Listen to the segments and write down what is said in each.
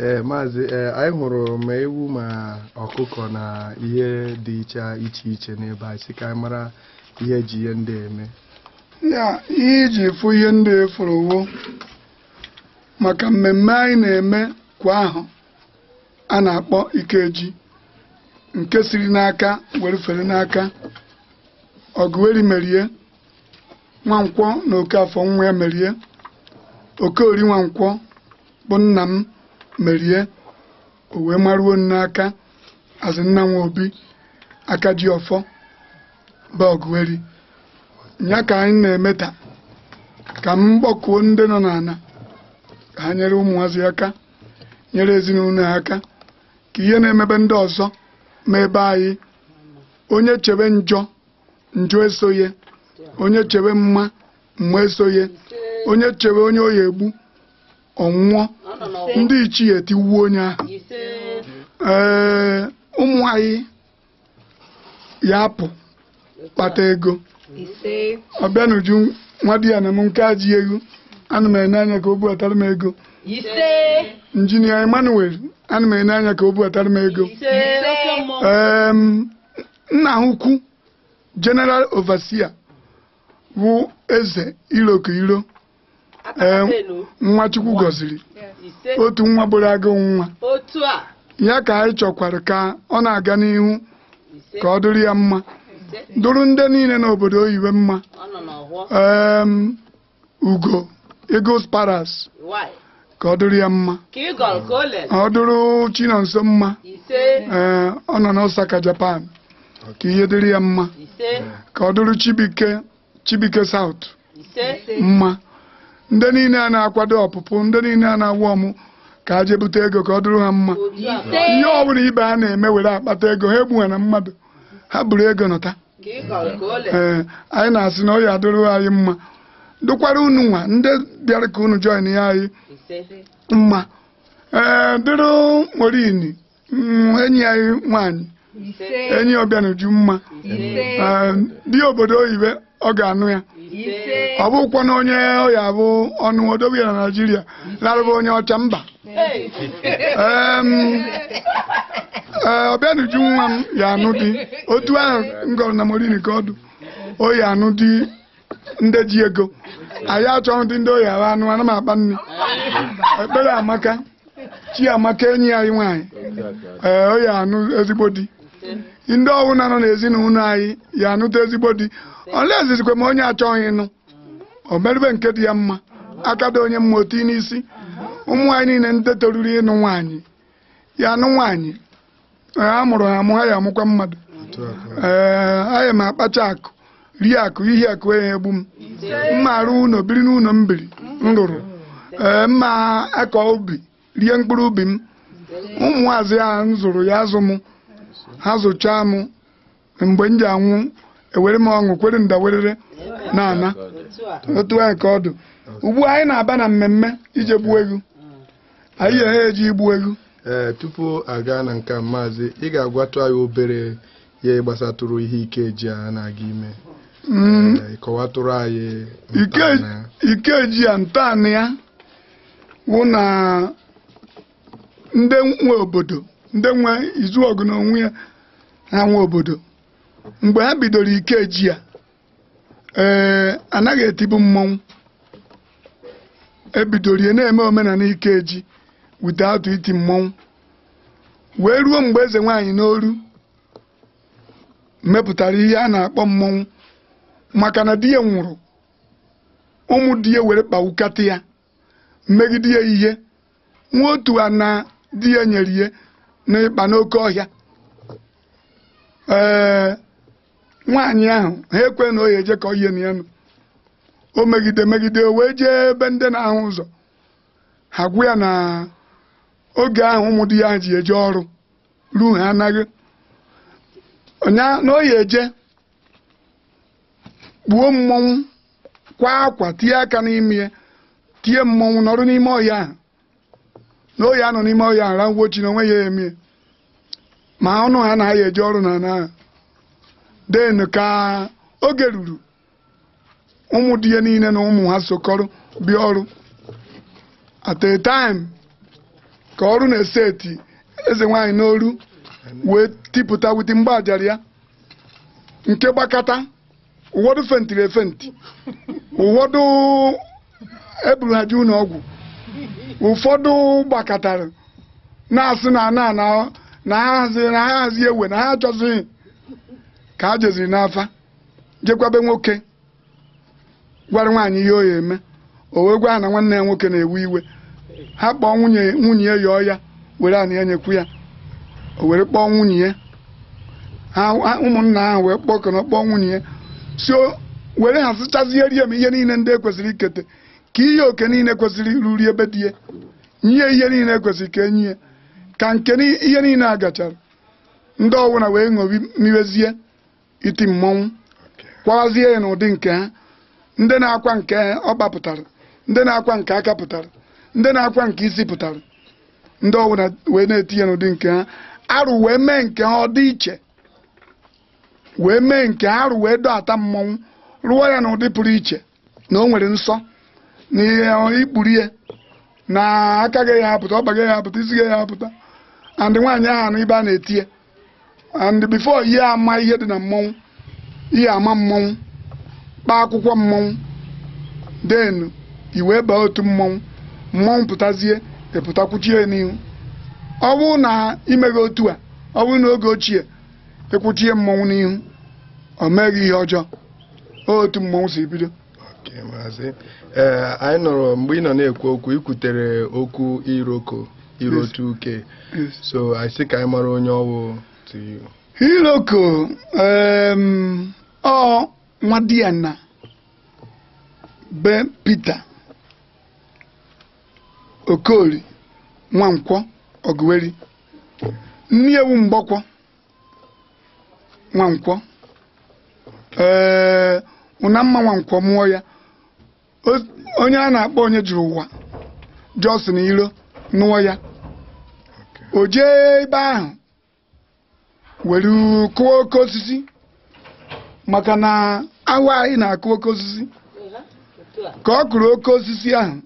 ee eh, maazị ee eh, anyị hụrụ ma ewu ma ọkụkọ na ihe dị iche iche iche n'ebe anyị sị ka anyị mara ihe e ji ihe ndị eme ya ihe i ji fụ ihe ndị ị fụrụ ọ wụ maka mmemme anyị na-eme kwa ahọ a na-akpọ ikeji nke siri n'aka were fere n'aka ọgụeri merie nwankwọ na okafọ nwa ya merie okorie nwankwọ bụ nna m merie o wee maruo n'aka azị nna nwa obi aka ji ọfọ bụ ọgụeri ya ka anyị na-eme taa ka m kpọkuo ndị nọ n'ana ka ha nyere ụmụazị aka nyere ezinụlọ aka ka ihe na-eme be ndị ọzọ mee be anyị onye chebe njọ njọ eso ye onye chebe mma mma eso ye onye chebe onye ọ ya-egbu ọ nwụọ ndị ichie etiwuo onye ahụ ee ụmụ anyị ya-apụ kpata ego ọbịanuju nwa di ya na m nke a ji ego ana m ene anya ka o buatara m ego injinia emmanuel ana m ene anya ka o buatara m ego em nna ha ukwu general overseer wụ eze iroko iro ee nwa chukwu gọziri otu nwa bụrụ agụ nwa otu a ya ka anyị chọkwara ka ọ na-aga n'ihu ka ọ dụrụ ya mma dụrụ ndị niile n'obodo oyiwe mma ee ugo eagles palace ka ọ dụrụ ya mma ka ị gọrọ ka o lere ọ dụrụ chinonso mma ise ee ọ nọ n'osaka japan ka ihe dịrị ya mma ise ka ọ dụrụ chibike chibike south ise mma ndị niile a na-akwado ọpụpụ ndị niile a na-awụ ọmụ ka ha je bute ego ka ọ dụrụ ha mma ise ihe ọ bụla ibe ha na-eme were akpata ego ha egbughana mmadụ ha buru ego nọta ka ị gọrọ ka o le ee anyị na-asị na ọ ya-adụrụ anyị mma dụkwara unu nwa ndị bịara ka unu join ya anyị ise mma ee dụrụ maureen mm, enyi anyị nwaanyị ise enyi ọbịanuju mma ise Ee, di obodo oyibe ọ ga-anụ ya ise ọ bụkwana onye ọ ya-abụ ọ nụọ dobe ya na naijiria larụba onye ọcha mba ọbịanuju nwa m ya-anụ di otu ahụ m gọrọ na maureen ka ọ dụ ọ ya-anụ di ndị ji ego anyị achọghị di ndị oyi ahụ anụ ana m akpọ nne ekpereamaka chiamaka enyi anyị nwaanyị ee ọ ya-anụ ezigbo di ndị ọ wụna nọ n'ezinụlọ anyị ya-anụta ezigbo di ọ na-ezizikwa m onye achọghị ịnụ o merube nke dị ya mma aka dị onye mma o tie n'isi ụmụ anyị niile ndị toruru ịnụ nwaanyị ya anụ nwaanyị a mụrụ ha amụ ha ya amụkwa mmadụ ee anyị ma akpacha akụ rie akụ ihe akụ ya egbu m m ma arụ ụlọ biri n'ụlọ m biri m rụrụ ee m ma akọ ubi rie mkpụrụ ubi m ụmụazị a m zụrụ ya azụ m ha zụchaa m mgbe m ji anwụ ewere m ọṅụ kwere ndawerere na ana otu a ka ọ dụ ugbu a anyị na-aba na mmemme ije gbuo egwu anyị ya eji igbu egwu ee tupu aga na nke maazị ị ga-agwatụ anyị obere ihe gbasatụrụ ihe ikeji a na-aga ime mm. kọwatụrụ anyị ikeji a ntọanị ya wụ na ndị nwe obodo ndị nwe izuọgụ n'onwe ya ha nwe obodo mgbe ha bidoro ikeji a ee anaghị etibu mmọnwụ e bidoro ya na-eme omenala ikeji without iti mmọnwụ wee ruo mgbe eze nwaanyị n'oru mepụtara ihe a na-akpọ mmọnwụ maka na di ya nwụrụ ụmụ di ya were kpawukata ya megide ya e nwee otu ana di ya nyere ya n'ikpa n'oke ọhịa ee nwaanyị ahụ ha ekwe na o ya eje ka ọ yie na ya nụ o megide megide o wee jee ebe ndị na-ahụ ụzọ ha gwa ya na oge ahụ ụmụ di ya ji eje ọrụ ruo ha anaghị na o ya eje kpuo mmọnwụ kwa akwa tie aka n'ime ya tie mmọnwụ nọrọ n'ime ọhịa ahụ na o ya anọ n'ime ọhịa ahụ ranwuo chi na onwe ya emie ma ọ nụ ha na ya eje ọrụ n'ana then ka oge ruru ụmụ di ya niile na ụmụ ha sokọrọ bịa ọrụ at a time ka ọrụ na-ese eti eze nwaanyị n'oru wee tipụta with mgbaajara ya nke gbakata ụfọdụ fentiri efenti ụfọdụ e buru ha jee ụlọ ọgwụ ụfọdụ gbakọtara na-asị na na na na ha hazi na ha hazi ewe na ha achọzighị ka ha jeziri n'afa jekwa be nwoke gwara nwaanyị ihe o ya eme o wee gwa ha na nwanne ya nwoke na-ewe iwe ha kpọọ nwunye nwunye ya yọọ ya were ana ya nyekwu ya o were kpọọ nwunye ya ha ha- ụmụnna ahụ wee kpọọ kọnọ kpọọ nwunye ya si o- were ha sịchazie rie m ihe niile ndị e kwesịrị ikete ka ihe oke niile kwesịrị ruri be di ya nye ihe niile e kwesịrị ka e nye ya ka nke ni- ihe niile a gachara ndị ọwụna wee ṅobi miwezie iti mmọnwụ kwawazie ya n'ụdị nke ha ndị na-akwa nke ọkpa pụtara ndị na-akwa nke aka pụtara ndị na-akwa nke isi pụtara ndị ọbụla wee na-eti ya n'ụdị nke ha arụ wee mee nke ha ọ dị iche wee mee nke ha arụ wee dọata mmọnwụ rụọ ya n'ụdị pụrụ iche na o nwere nsọ na ị ya-ekpuru ya na aka gị ya apụta ọkpa gị ya apụta isi gị ya apụta and nwaanyị ahụ anọ ibe a na-eti ya and before ị ya-ama ihe dị na mmọnwụ ị ya-ama mmọnwụ kpaa akwụkwọ mmọnwụ then i wee baa otu mmọnwụ mmọnwụ pụtazie ị pụta kwụchie ya n'ihu ọ bụrụ na i meghị otu a ọ bụrụ na oge ochie ị kwụchie mmọnwụ n'ihu o mee gị ihe ọjọọ otu mmọnwụ si bido maazị ee anyị nọrọ mgbe ị nọ na-ekwu okwu i kwutere okwu iroko iroko uke so anyị sị ka anyị mara onye ọ wụ to you iroko ọ nwadiana be Peter Okoli Nwankwọ Oguweri nne ya wụ Mgbọkwọ Nwankwọ ee Unamma Nwankwọ mụọ ya O- onye a na-akpọ Onyejiruwa Johnson Iro nụọ ya o jee ebe ahụ were kụọ oke osisi maka na ahụ anyị na-akụ oke osisi ka ọ kụrụ oke osisi ahụ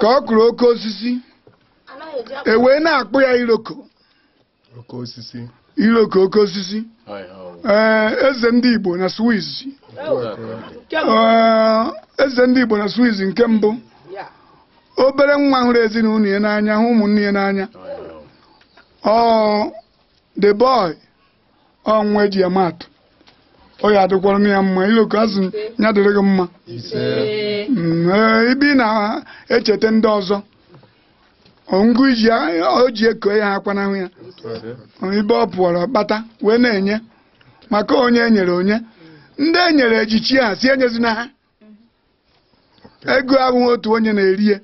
ka ọ kụrụ oke osisi e wee na-akpọ ya iroko iroko oke osisi ee eze ndị Igbo na Swiss eze ndị Igbo na Swiss nke mbụ obere nwa hụrụ ezinụlọ ya n'anya hụ ụmụnne ya n'anya ọ the boy ọ nwa e ji ama atụ ọ ya adịkwara na ya mma iroko a sị ya dịrị gị mma ibe ị na-echeta ndị ọzọ ngụ o ji eko ya akwanahụ ya ibe ọ pụọrọ kpata wee na-enye maka onye e nyere o nye ndị e nyere ejichie a sị enyezina ha ego ahụ otu onye na-eri ya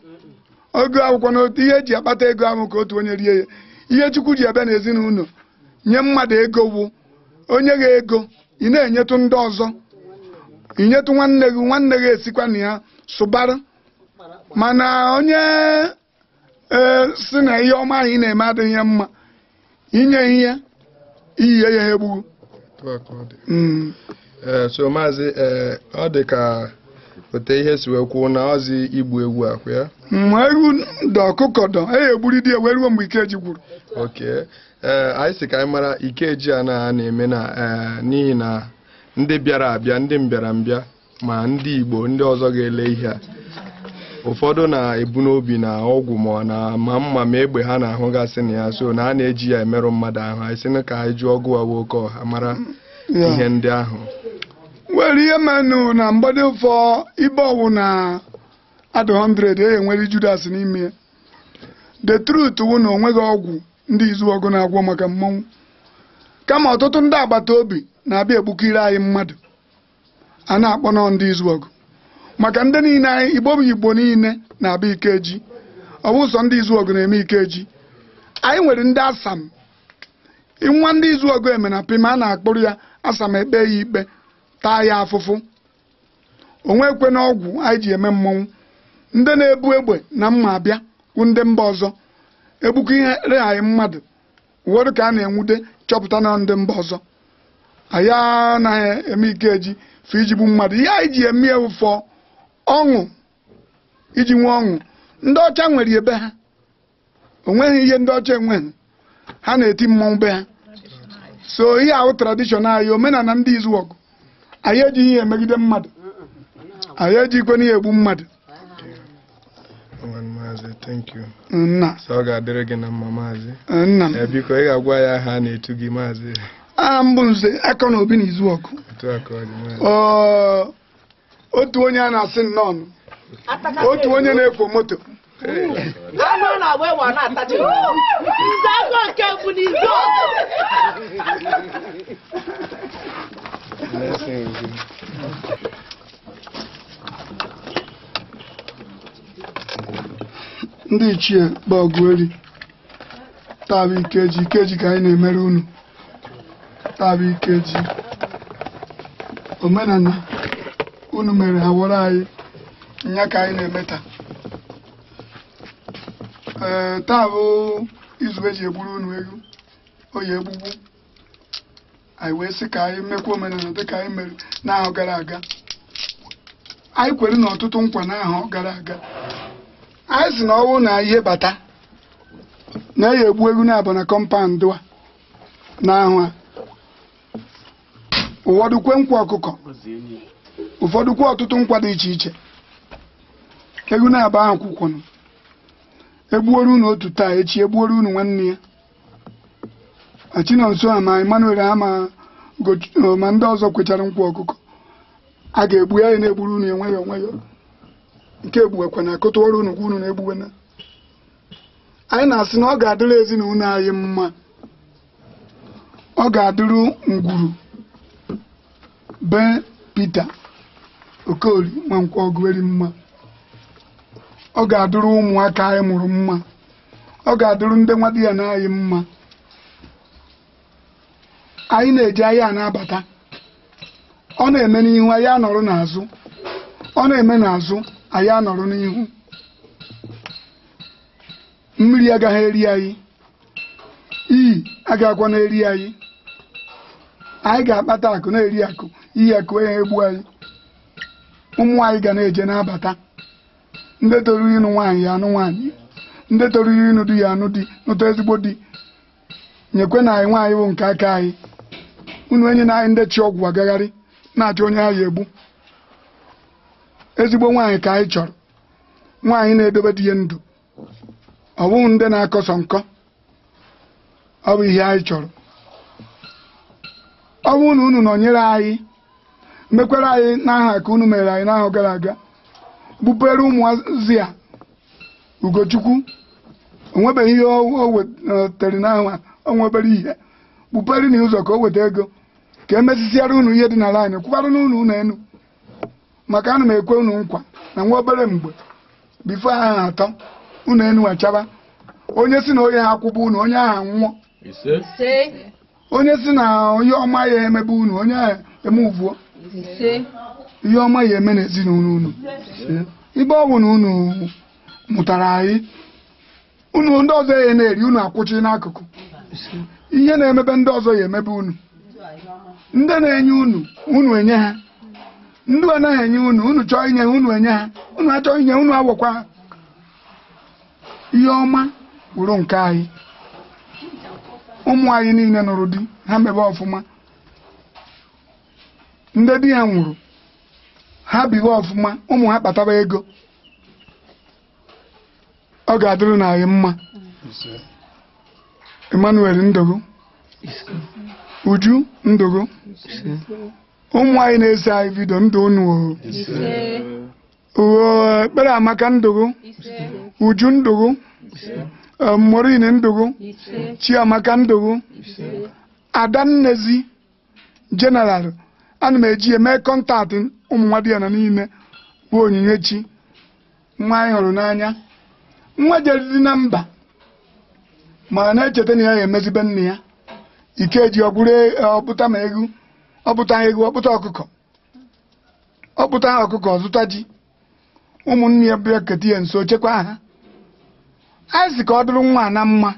ogo akwụkwọ na otu ihe e ji akpata ego ahụ ka otu onye rie ya ihe Chukwu ji abịa n'ezinụlọ nye mmadụ ego bụ o nye gị ego ị na-enyetụ ndị ọzọ i nyetụ nwanne gị nwanne gị esikwa na ya sụbara mana onye ee si na ihe ọma anyị na-eme adịghị ya mma inye ihe iyiye ya ha egbughu Otu a ka ọ dị. Mm. Ee, so maazị ee, ọ dị ka ote ihe si wee kwuo na ọzi igbu ewu akwụ ya mgbe ewu dọ ọkụkọ dọ e egburi di ya wee ruo mgbe Ikeji gwụrụ oke ee anyị sị ka anyị mara ikeji a na a na-eme na ee, n'ihi na ndị bịara abịa ndị mbịara mbịa ma ndị Igbo ndị ọzọ ga-ele ihe a ụfọdụ na-ebu n'obi na ọgwụ ma na ma mma ma egbe ha na-ahụgasị na ya so na a na-eji ya emerụ mmadụ ahụ anyị sị ka anyị jụọ ọgụ awa oke ọha mara ihe ndị ahụ nwere ihe menụ na mgbede ụfọ ebe ọ wụna a dụ 100 e nwere Judas n'ime ya the truth wụ na o nweghị ọgwụ ndị Izuọgụ na-agwọ maka mmọnwụ kama ọtụtụ ndị agbata obi na-abịa egbukiri anyị mmadụ a na-akpọnụ ndị Izuọgụ maka ndị niile anyị igbo bụ igbo niile na-abịa ikeji ọ bụ sọ ndị Izuọgụ na-eme ikeji anyị nwere ndị asam nwa ndị Izuọgụ eme na pima a na-akpụrụ ya asam e kpee ya ikpe taa ya afụfụ o nwekwena ọgwụ anyị ji eme mmọnwụ ndị na-ebu egbe na mma abịa wụ ndị mba ọzọ egbukiri anyị mmadụ ụfọdụ ka a na-enwude chọpụta na ndị mba ọzọ anyị anaghị eme Ikeji for iji gbuo mmadụ ihe anyị ji eme ya wụ for ọṅụ iji nwee ọṅụ ndị ọcha nwere ebe ha o nweghị ihe ndị ọcha enweghị ha na-eti mmọnwụ be ha so ihe a wụ tradishọn anyị omenala ndị Izuọgụ anyị ejighị ihe emegide mmadụ anyị ejikwe n'ihe egbu mmadụ nna ọ ga-adịrị gị na mma maazị nna m biko ị ga-agwa anyị aha a na-etu gị maazị aha m bụ Nze Akọnobi na Izuọgụ otu onye a na-asị nnọọnụ otu onye na-ekwo moto anụ a na-agba egbe a na-atachi nze aka nke bụ n'izu ndị ichie bịa gweri taa bụ ikeji ikeji ka anyị na-emere unu taa bụ ikeji omenala unu mere hawọrọ anyị nya ka anyị na-eme taa ee taa bụ izu e ji egburu unu ewu Oye Egbugbu anyị wee sị ka anyị mekwa omenala dịka anyị mere n'ahọ gara aga anyị kwere unu ọtụtụ nkwa n'ahọ gara aga anyị sị na ọ wụ na ihe bata na ya egbu ewu naabọ na compound a n'ahọ a ụfọdụ kwe nkwa ọkụkọ ụfọdụ kwe ọtụtụ nkwa dị iche iche ewu naabọ ahụ kwụkwọnụ egbuoro unu otu taa echi egbuoro unu nwanne ya Chinonso ha ma Emmanuel ha ma ndị ọzọ kwechara nkwa ọkụkọ a ga-egbu ya na-egburu unu enweghị onwe ya nke egbuwekwa na akụtụwara unu kwa unu na-egbuwe na anyị na-asị na ọ ga-adịrị ezinụlọ anyị mma ọ ga-adịrị ngwuru be Peter Okoli Nwankwo Ogueri mma ọ ga-adịrị ụmụaka anyị mụrụ mma ọ ga-adịrụ ndị nwadiana anyị mma anyị na-eje ahịa na-abata ọ na-eme n'ihu anyị anọrọ n'azụ ọ na-eme n'azụ anyị anọrọ n'ihu mmiri agaghị eri anyị iyi agakwana eri anyị anyị ga-akpata akụ na-eri akụ iyi akụ egbu anyị ụmụ anyị ga na-eje na-abata ndị toruru ịnụ nwaanyị ya anụ nwaanyị ndị toruru ịnụ di ya anụ di nụta ezigbo di nyekwanụ anyị nwaanyị bụ nke aka anyị unu enyena anyị ndị chị ọgwụ agagharị na-achọ onye ha ya egbu ezigbo nwaanyị ka anyị chọrọ nwaanyị na-edobe di ya ndụ ọ bụghị ndị na-akọsọ nkọ ọ bụ ihe anyị chọrọ ọ bụrụ na unu nọnyere anyị mekwara anyị n'ahọ a ka unu mere anyị n'ahọ gara aga bọpere ụmụazị a Ugochukwu o nwebeghị ihe o wetere n'ahọ a o nwebere ihe bọpere na ụzọ ka o weta ego ka e mesisiara unu ihe dị n'ala anyị kwụbara unu ụnọ enu maka ana m ekwe unu nkwa na nwa obere mgbe before ahọ atọ ụnọ enu achaba onye sị na onye ha akwụba unu onye ahụ nwụọ onye sị na ihe ọma ya emebe unu onye ahụ emevuo ihe ọma ya eme n'ezinụlọ unu ibe ọ bụ na unu mụtara anyị unu ndị ọzọ ya na-eri unu akwụchi n'akụkụ ihe na-emebe ndị ọzọ ya emebe unu ndị na-enye unu unu enye ha ndị anaghị enye unu unu chọọ inye ha unu enye ha unu achọghị inye unu awọkwa ha ihe ọma wụrụ nke anyị ụmụ anyị niile nụrụ di ha mebe ọfụma ndị di ha nwụrụ ha biwe ọfụma ụmụ ha kpataba ego ọ ga-adịrị anyị mma Emmanuel Ndugu Uju Ndugu ụmụ anyị na-ese anyị vidio ndụ unu oo Ekpereamaka Ndugu Uju Ndugu Maureen Ndugu Chiamaka Ndugu Adannezi General ana m eji eme contact ụmụ nwa di ya na niile bụ Onyinyechi nwa anyị hụrụ n'anya nwa jeriri na mba ma na-echeta na ya ya emezibe nne ya Ikeji o buta ma ewu buta ọkụkọ zụta ji ụmụnne ya bịa keta ya nso chekwa ha anyị sị ka ọ dụrụ nwa na mma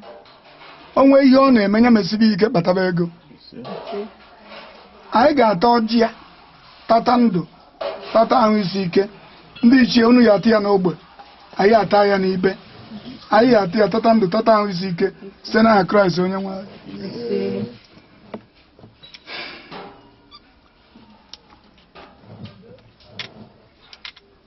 o nwee ihe ọ na-eme ya mesibe ike kpataba ego anyị ga-ata ọjị ya tata ndụ tata ahụ isi ike ndị ichie unu ya-ata ya n'ogbe anyị ata ya n'ibe anyị ya-ata ya tata ndụ tata ahụ isi ike site n'aha Kraịst onye nwe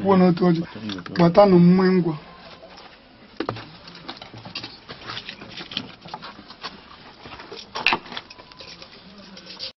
kwuo n'otu ọjị gbatanụ mma ngwa